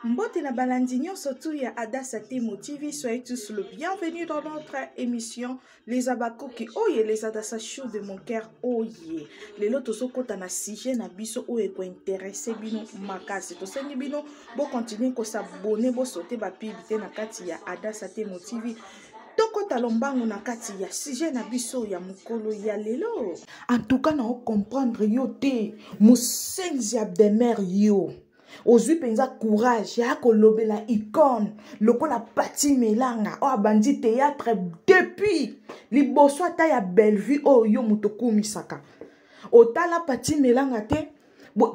Mbote na balandi nyonso tu ya Adassa Temo TV, soyez tous le bienvenu dans notre émission Les Abakoki oye les Adassa Show de mon cœur oye. Lelo tozokota na sujet na biso oyo ekointeresse bino makasi. Tosengi bino bo continuer ko s'abonner, bo sauter ba pub te na kati ya Adassa Temo TV. tokota lombango na kati ya sujet na biso ya mokolo ya lelo antuka na ocomprendre yo te mosenzi ya demeure yo ozwi mpenza courage ya kolobela icone lokola pati melanga oyo abandi théâtre depuis liboso ata ya bellevue oyo yo moto okumisaka otala pati melanga te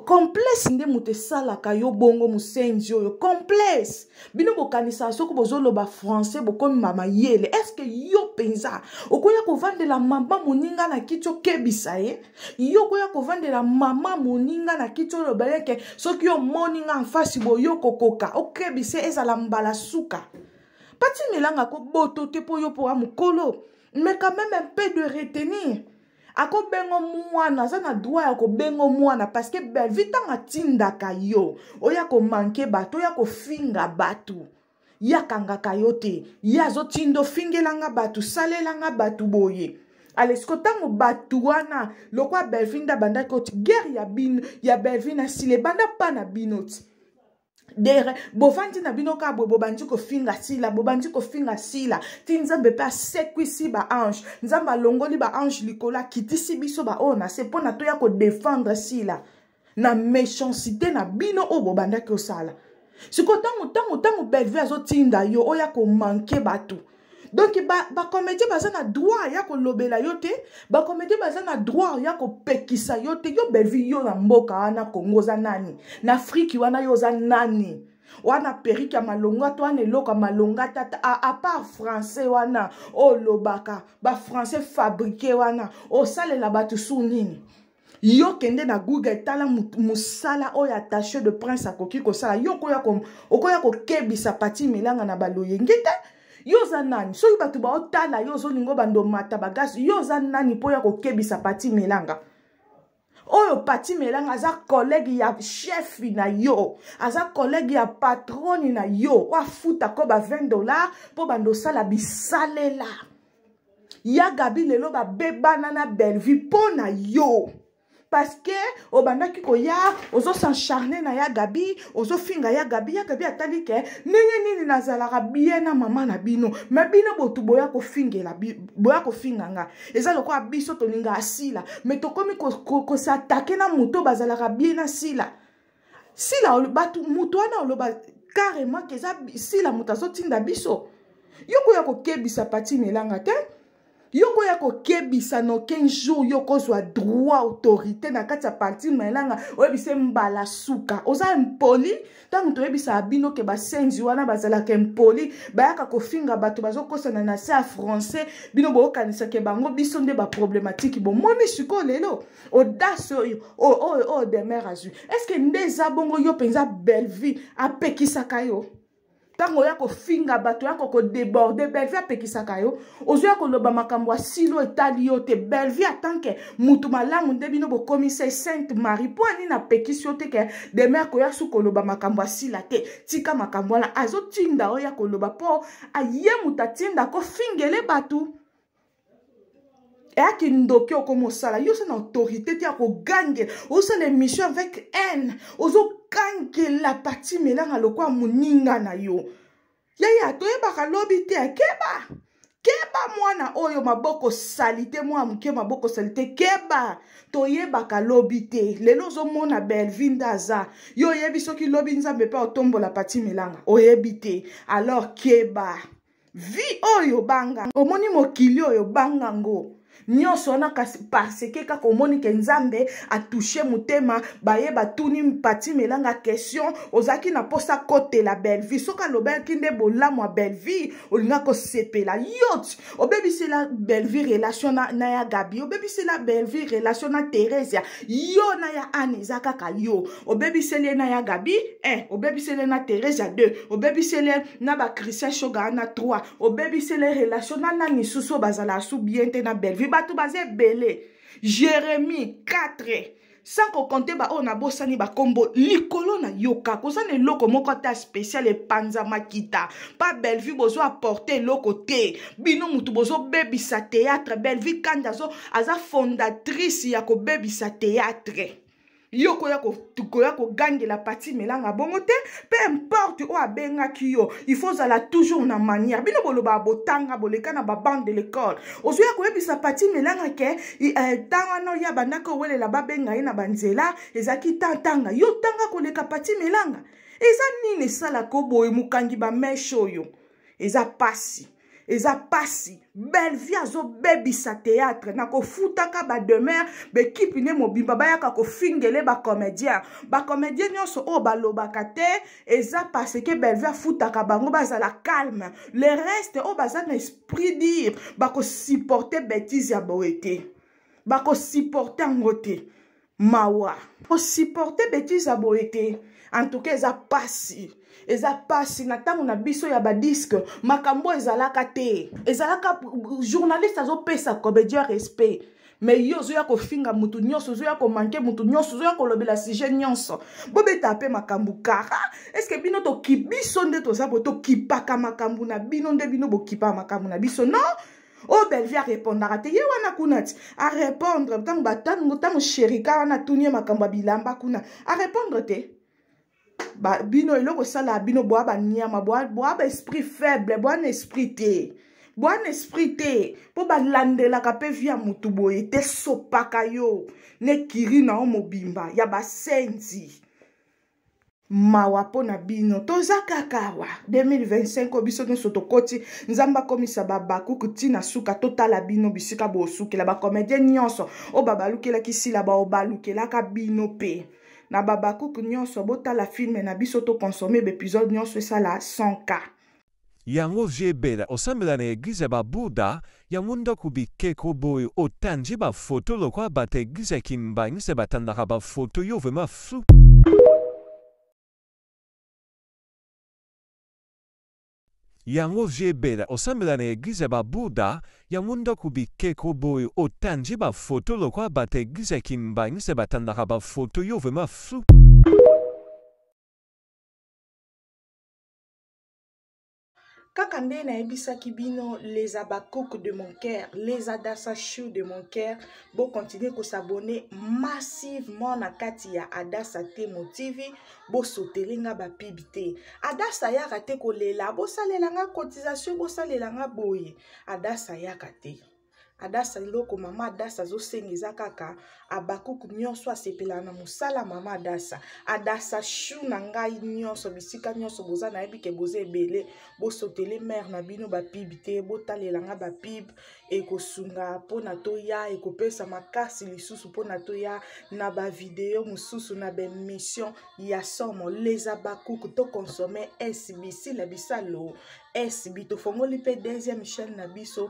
complexe nde moto esalaka yo bongo mosenzi oyo complexe bino bokanisaka soki bozoloba français bokomi bamayele estce yo mpenza okoya kovandela mama moninga na kiti okebisa ye yo koya kovandela mama moninga na kiti oyo obaleke soki omoni nga mfasi boyo kokoka okebise ezala mbala suka batimelanga koboto te mpo yo mpo wa mokolo mais quand même un peu de retenir akobengo mwana aza na droit ya kobengo mwana parceke belvi ntango atindaka yo oya komanke bato oya kofinga bato ye akangaka yo te ye azotinda ofingelanga bato salelanga bato boye alesiko ntango bato wana lokwa belvin nde abandaki oti guerre ya bino ya belvin na sila ebanda mpa na bino ti dere bovandi na bino kaka boye bobandi kofinga sila bobandi kofinga sila ti nzambe mpe asekwisi baange nzambe alongoli baange likolo akitisi biso baoyo na se mpo na toya kodefendre sila na méchanceté na bino oyo bobandaki osala sikoyo ntango ntango ntango bellevue azotinda yo oya komanke bato donc bacomédien ba baza na droit ya kolobela yo te bacomédien baza na droit ya kopekisa yo te yo bellevue yo na mboka wana congo oza nani na afriki wana yo oza nani wana perike ya malonga to wana eloko ya malonga tata apart français wana olobaka bafrançais fabrike wana osalela bato su nini yo kende na google tala mosala oyo attaché de prince akoki kosala yo okoya okoya kokebisa pati milanga na baloyenge te yo oza nani soki bato baotala yo ozolinga obanda omata bagasi yo oza nani mpo ya kokebisa pati milanga oyo pati melanga aza kolege ya chefi na yo aza kolege ya patroni na yo oafuta ko ba 20 dollar mpo banda osala bisalela ya gabi lelo babebana na bellevue mpo na yo parce que obandaki koya ozosencharne na ya gabi ozofinga ya gabi ya gabi atali ke ndenge nini nazalaka bien na mama na bino me bino botu boya kofingela boya kofinga nga eza lokola biso tolingaka sila me tokomi kosatake ko, ko na moto bazalaka bien na sila sila bato moto wana oloba carrément ke eza sila moto azotinda biso yo koya kokebisa pati milanga te yo koya kokebisa noken jour yo kozwa droit autorité na kati ya parti milanga oyebisa mbala suka oza impoli ntango toyebisaka bino ke basenzi wana bazalaka impoli bayaka kofinga bato bazokosana na se ya français bino boyokanisake bango biso nde baproblematiki bomoni sikoyo lelo audace oyo oyo oh, oyo oh, oh, demeure azwi estce nde eza bongo yo mpenza bellevue apekisaka yo ntango oya kofinga bato yako kodeborde bellevue apekisaka yo ozoya koloba makambo ya silo etali yo te bellevue atanke motu malamu nde bino bokomisa sainte marie mpo anini apekisi yo te ke demer koya su koloba makambo ya sila te tika makambo wana azotinda oya koloba mpo aye moto atinda kofingele bato eya kindoki okoma osala yo oza na autorité te ya kogangela osala émission avec haine ozogangela pati melanga lokola moninga na yo yaya toyebaka lobi te akeba keba mwana oyo maboko salite mwana moke maboko salite keba toyebaka lobi te lelo ozomona belvi nde aza yo oyebi soki lobi nzambe mpe otombola pati milanga oyebi te alors keba vie oyo banga omoni mokili oyo banga ngo nyonso wana kasi parceke kaka omoni ke nzambe atushe motema baye batuni pati melanga question ozalaki na mposa akotela bellevie soki alobaki nde bolamu ya bellevie olinga kosepela yot obebisela bellevie relation na, na ya gabi obebisela bellevie relation na theresia yo na ya ane eza kaka yo obebiseli ye na ya gabi 1 obebiseli ye na theresia 2 obebiseli ye na bachristien shoga na 3 obebiseli ye relation na nani susu oyo bazalaka su bien te na bellevue bato baza ebele jérémie 4 sans kokonte baoyo nabosani bakombo likolo na yoka koza na eloko moko ata spécial epanza makita pa bellevue bozo apporte eloko te bino motu bozobebisa théâtre bellevue kanda aza fondatrice ya kobebisa théâtre yo koya koya kogangela pati melanga bongo te peu importe oyo abengaki yo il faut ozala toujours na manière bino bolobaka botanga boleka na babande de l'école ozoya koyebisa pati melanga ke ntan eh, wana oya bandaki owelela babenga ye na banzela ezalaki ntan tanga yo tanga koleka pati melanga eza nini esalaka oboye mokangi bameshe oyo eza pasi eza pasi bellevie azobebisa théâtre na kofutaka bademeure bekipe nde mobimba bayaka kofingele bacomédien bacomédien nyonso oyo balobaka te eza parce que bellevie afutaka bango bazala calme le reste oyo baza na esprit dire bakosupporte bétise ya boye te bakosupporte yango te mawa kosupporte betise ya boye te antuka eza pasi eza pasi na ntango na biso ya badiske makambo ezalaka te ezalaka journaliste azopesa comedia respect me yo ozoya kofinga motu nyonso ozoya komanke motu nyonso ozoya kolobela sujet nyonso bobeta mpe makambo kara eske bino toki biso nde toza bo tokipaka makambo na bino nde bino bokipaka makambo na biso non o oh, bellevie arepondaka te ye wana kuna ti arepondre ntango batango ntango sherika wana atuni ye makambo ya bilamba kuna arepondre te ba, bino eloko esalaka bino bwa baniama bwa baesprit faible bwa na esprit te bwa na esprit te mpo balandelaka mpe vi ya motu boye te sopaka yo nekiri na yo mobimba ya basenzi mawa mpo na bino toza kaka awa 2025 oyo biso nyonso tokoti nzambe akomisa babakuku ti na suka totala bino bisika bosukela bakomedien nyonso oyo babalukelaki sila bao balukelaka bino mpe na babakuku nyonso botala filme na biso tokonsome baepisode nyonso esala 100 cas Yango vieux Bella osambela na eglise ya ba bouda yango ndaku bikeko boye otandi ba photo lokola batu ya eglise ya kimbanguiste batandaka ba photo yo vraiment flou. Yango vieux Bella osambela na eglise ya ba bouda yango ndaku bikeko boye otandi ba photo lokola batu ya eglise ya kimbanguiste batandaka ba photo yo vraiment flou. kaka nde nayebisaki bino les abacook de mon cœur les adasa chou de mon cœur bocontinue kosabone massivement na kati ya adasa temo tv bosotele nga bapib te adasa yaka te kolela bosalela nga cotisation bosalela nga boye adasa yaka te adasa eloko mama adasa azosenga eza kaka abakuku nyonso asepelaka na mosala mama adasa adasa shu na ngai nyonso bisika nyonso boza nayebi ke boza ebele bosotele mare na bino bapibe te botalela ngai bapibe ekosunga mpona toya ekopesa makasi lisusu mpona toya na bavideo mosusu na baemission ya somo les abakuku tokonsome sbc la bisalo sb tofongoli mpe deuxième chaîne na biso